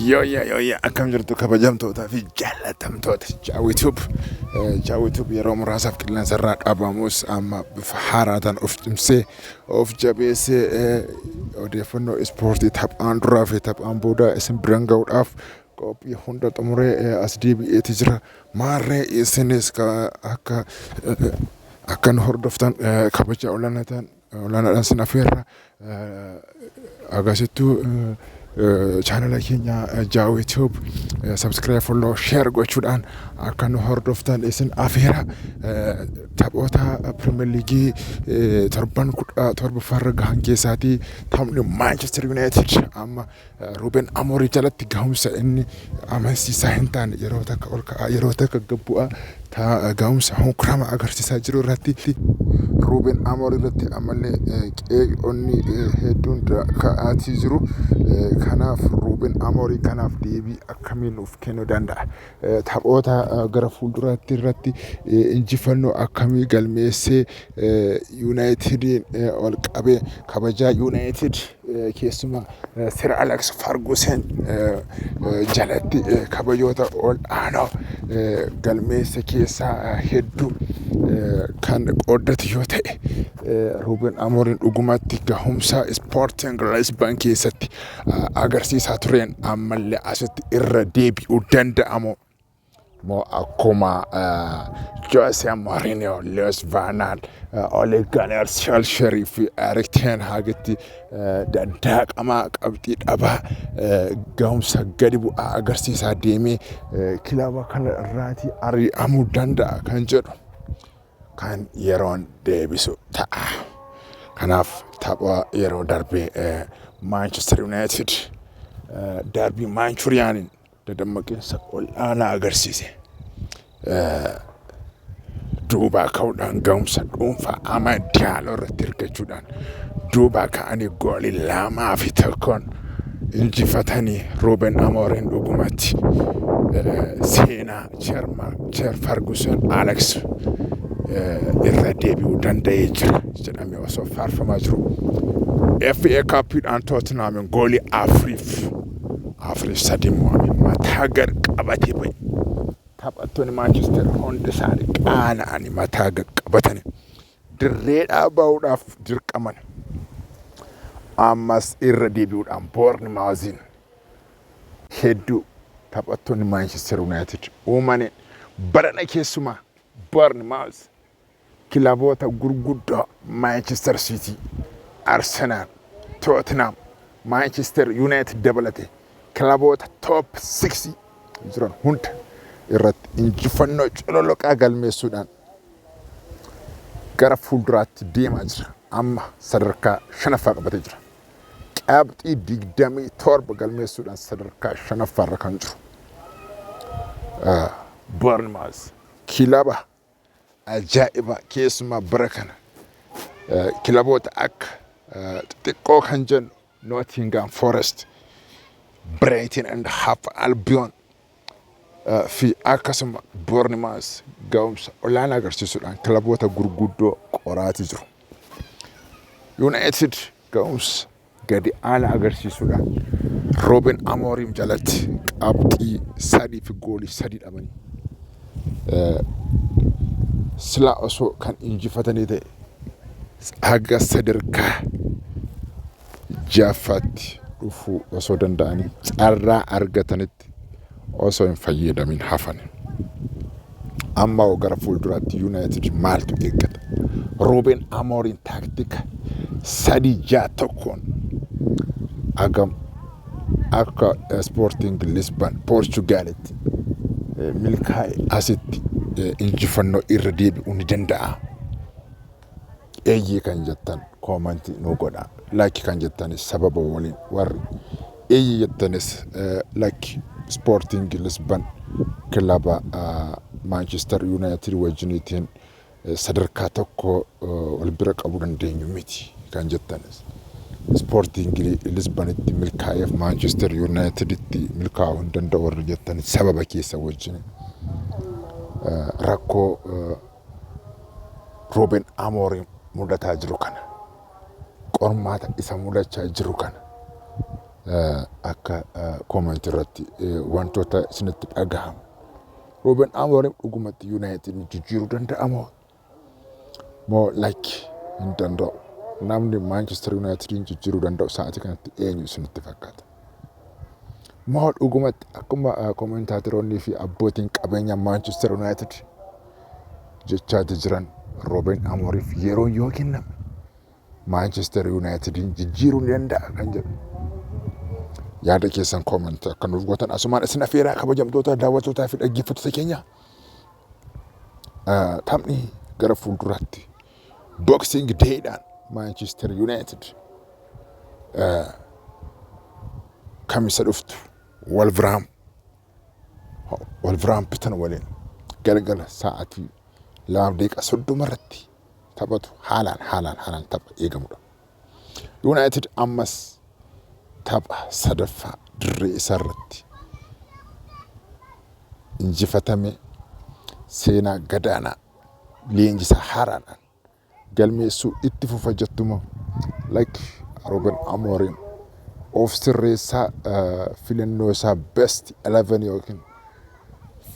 Yooyyaa yooyyaa akkam jirtu kabajamtootaa fi jaallatamtoota Jaawituub. Jaawituub yeroo muraasaaf qilleensa irraa dhaabamus amma bifa haaraataan of cimsee of jabeessee eh, odeeffannoo ispoortii taphaan duraa fi taphaan booda isin biran ga'uudhaaf qophii hunda xumuree eh, as deebi'eeti jira. Maarree isinis ka- akka eh, akka nu hordoftan eh, kabajaa olaanaa ta'an Olaanaadhaan sin affeerra. Agasittuu chaanala keenya Jaawee Tube subscribe, follow, share gochuudhaan akka nu hordoftan isin afeera. Taphoota Pirimeer Liigii torban kudha torbaffaarra gahan keessaatii taphni Maanchester Yuunaayitid amma Ruben Amorim jalatti gahumsa inni amansiisaa hin taane yeroo takka ol ka'aa yeroo takka gad bu'aa gahumsa honkramaa agarsiisaa jiru irratti Ruben Amorim irratti ammallee qeeqonni hedduun ka'aatii jiru. Kanaaf Ruben Amorim kanaaf deebii akkamii nuuf kennuu danda'a? Taphoota gara fuulduraatti irratti injifannoo akkamii galmeessee Yuunaayitidiin wal qabee kabajaa Yuunaayitid keessumaa Sir Aleks Fargusen jalatti kabajoota ol aanoo galmeesse keessaa hedduu kan qooddatu yoo ta'e Ruuben Amorin dhugumatti gahumsa Ispoortiin Lisban keessatti agarsiisaa tureen ammallee asitti irra deebi'uu danda'amu. Moo akkuma Jose Mourinho, Luis Van Gaal, Ole Gunnar Solskjaer fi Erik Ten Hagitti daddaaqamaa qabxii dhabaa gahumsa gadi bu'aa agarsiisaa deemee kilaba kana irraatii ari'amuu danda'a kan jedhu. kan yeroon deebisu ta'a. Kanaaf tapha yeroo darbe Maanchester Yuunaayitid darbii Maanchuriyaaniin dadammaqiinsa ol'aanaa agarsiise. Duubaa ka'uudhaan ga'umsa dhuunfaa ama diyaaloo irratti hirkachuudhaan duubaa ka'anii goolii lamaa fi tokkoon injifatanii Ruuben Amooriin dhugumatti seenaa Chairman Sir Ferguson Alex eh, irra deebi'uu danda'ee jira jedhamee osoo faarfamaa jiru. FA Cupiidhaan Tottenham goolii afuriif afuriif sadii mo'ame mataa gad qabatee ba'e. Taphattoonni Maanchester hundi isaanii qaana'anii mataa gad qabatanii dirreedhaa ba'uudhaaf dirqaman. Ammas irra deebi'uudhaan Boornimaaziin hedduu taphattoonni Maanchester Yuunaayitid uumaniin barana keessumaa Barnimaawus kilaboota gurguddoo Maanchester Siitii, Arsenaal, Tootinhaam, Maanchester Yuunaayitid dabalatee kilaboota toop 6 jiran hunda irratti injifannoo cololoqaa galmeessuudhaan gara fuulduraatti deemaa jira. Amma sadarkaa shanaffaa qabatee jira. qabxii 27 galmeessuudhaan sadarkaa shanaffaarra kan jiru Boornimaawus kilaba ajaa'ibaa keessumaa bara kana kilaboota akka xixiqqoo kan jennu Nootingaam Forest, Bireetin and Haaf Albiyoon fi akkasuma Boornimaas ga'umsa olaanaa agarsiisuudhaan kilaboota gurguddoo qoraatii jiru. Yuunaayitid ga'umsa gadi aanaa agarsiisuudhaan Rooben Amooriim jalatti qabxii sadii fi goolii sadii dhabanii silaa osoo kan injifatanii ta'e haga sadarkaa jaffaatti dhufuu osoo danda'anii carraa argatanitti osoo hin fayyadamin hafan. Amma hoo gara fuulduraatti Yuunaayitid maaltu eeggata? Ruuben Amooriin taaktika sadii ja'a tokkoon agam akka Ispoortiing Lisban Poorchugaalitti milkaa'e asitti injifannoo irra deebi'uu ni danda'a. Eeyyee kan jettan comment nuu godhaa. Like kan jettanis sababa waliin warri eeyyee jettanis eh, like Sporting Lisbon kilaba ah, Manchester United wajjiniitiin eh, sadarkaa tokko eh, wal bira qabuu dandeenyu miti kan jettanis. Sporting Lisbonitti milkaa'eef Manchester Uniteditti milkaa'uu hin danda'u warri jettanis sababa keessa wajjin eh, rakkoo eh, Ruuben Amoorim mudataa jiru kana qormaata isa mudachaa jiru kana akka koomanti irratti wantoota isinitti dhagahamu. Ruuben Amoorim dhugumatti Yuunaayitid jijjiiruu danda'a moo? Moo lakki hin danda'u. Namni Maanchestar Yuunaayitidin jijjiiruu danda'u sa'aatii kanatti eenyu isinitti fakkaata? Moo dhugumatti akkuma koomentaatiroonnii fi abbootiin qabeenya Maanchister Yuunaayitid jechaati jiran Roobeen Amooriif yeroon yoo kenname Maanchister Yuunaayitidiin jijjiiruu ni danda'a kan jedhu. Yaada keessan koomentii akka nuuf gootan asumaan isin afeeraa kabajamtoota daawwattootaa fi dhaggeeffattoota keenya. Taphni gara fuulduraatti Boxing Day dhaan Maanchister Yuunaayitid kamisa dhuftu Walviraam Walviraampitan waliin galgala sa'aatii lamaaf daqiiqaa soddoma irratti taphatu haalaan haalaan haalaan tapha eegamudha. Yuunaayitid ammas tapha sadaffaa dirree isaa irratti injifatame seenaa gadaanaa leenjisaa haaraadhaan galmeessuu itti fufa jettumoo like Ruben Amorim of sirreessaa filannoo isaa best 11 yookiin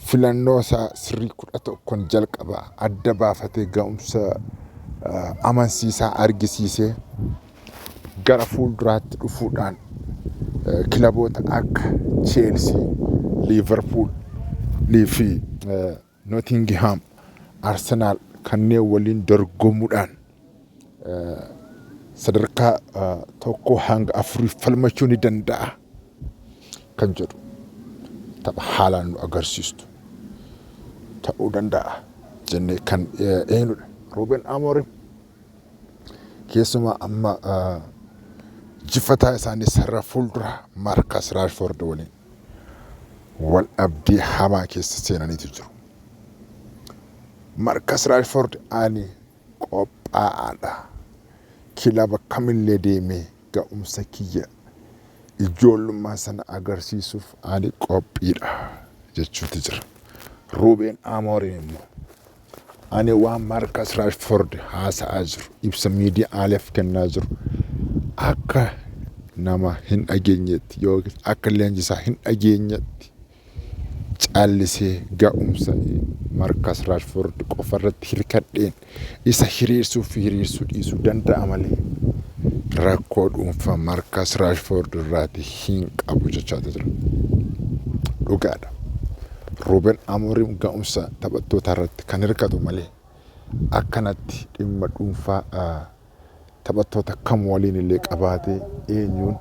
filannoo isaa sirrii kudha tokkon jalqaba adda baafatee ga'umsa amansiisaa argisiisee gara fuulduraatti dhufuudhaan kilaboota akka Cheelsii, Liiverpuul fi Notingihaam Arsenaal kanneen waliin dorgomuudhaan sadarkaa tokkoo hanga afuriif falmachuu ni danda'a kan jedhu tapha haalaan nu agarsiistu ta'uu danda'a jennee kan eenyudha. Ruuben Amoorim keessumaa amma jifataa isaanii sarara fuulduraa Maarkaas Raashfoord waliin wal dhabdee hamaa keessa seenaniitu jiru. Markas Raashford ani qophaa'aadha. Kilaba kamillee deemee ga'umsa kiyya ijoollummaa sana agarsiisuuf ani qophiidha jechuutti jira. Ruubeen Amooriin immoo Ani waan Maarkas Raashfoord haasa'aa jiru ibsa miidiyaaleef kennaa jiru akka nama hin dhageenyetti yookiin akka leenjisaa hin dhageenyetti callisee ga'umsa Maarkas Raashfoord qofa irratti hirkadheen isa hiriirsuu fi hiriirsuu dhiisuu danda'a malee rakkoo dhuunfaa Maarkas Raashfoord irraati hin qabu jechaa jira. Dhugaadha. Ruuben Amoorim ga'umsa taphattootaarratti kan hirkatu malee akkanatti dhimma dhuunfaa taphattoota kam waliin illee qabaatee eenyuun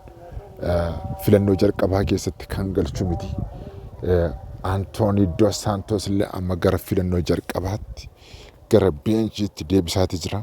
filannoo jalqabaa keessatti kan galchu miti. Antoonii Dos Saantos illee amma gara filannoo jalqabaatti gara beenchiitti deebisaatii jira.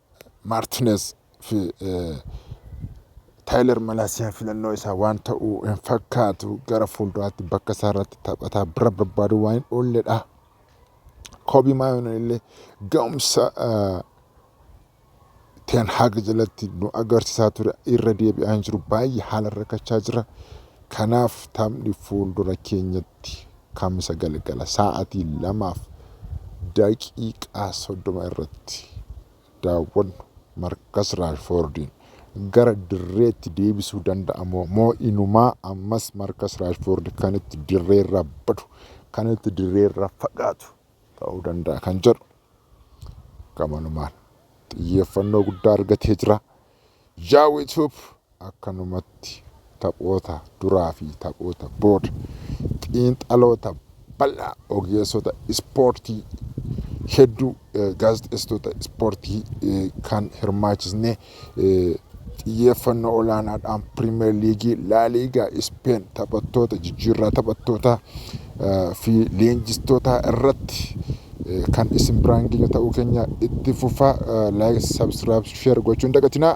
Maartineez fi Taayilar Malaasiyaan filannoo isaa waan ta'u hin fakkaatu gara fuulduraatti bakka isaa irratti taphataa bira barbaaduu waan hin oolledha. Koobii Maayoon illee ga'umsa Teen Haag jalatti nu agarsiisaa ture irra deebi'aa hin jiru baay'ee haala rakkachaa jira. Kanaaf taphni fuuldura keenyatti Kamisa galgala sa'aatii 2:30 irratti daawwannu Markas Raashfoordiin gara dirreetti deebisuu danda'a moo moo inumaa ammas Markas Raashfoordi kan itti dirreerra badu kan itti dirreerra fagaatu ta'uu danda'a kan jedhu gamanumaan xiyyeeffannoo guddaa argatee jira. Yaa YouTube Akkanumatti taphoota duraa fi taphoota booda xiinxaloota bal'aa ogeessota ispoortii hedduu gaazexeessitoota ispoortii kan hirmaachisne xiyyeeffannoo olaanaadhaan piriimeer liigii laaliigaa ispeen taphattoota jijjiirraa taphattootaa fi leenjistootaa irratti kan isin biraan geenyu ta'uu keenya itti fufaa laayik sabskiraayib sheer gochuun dagatinaa.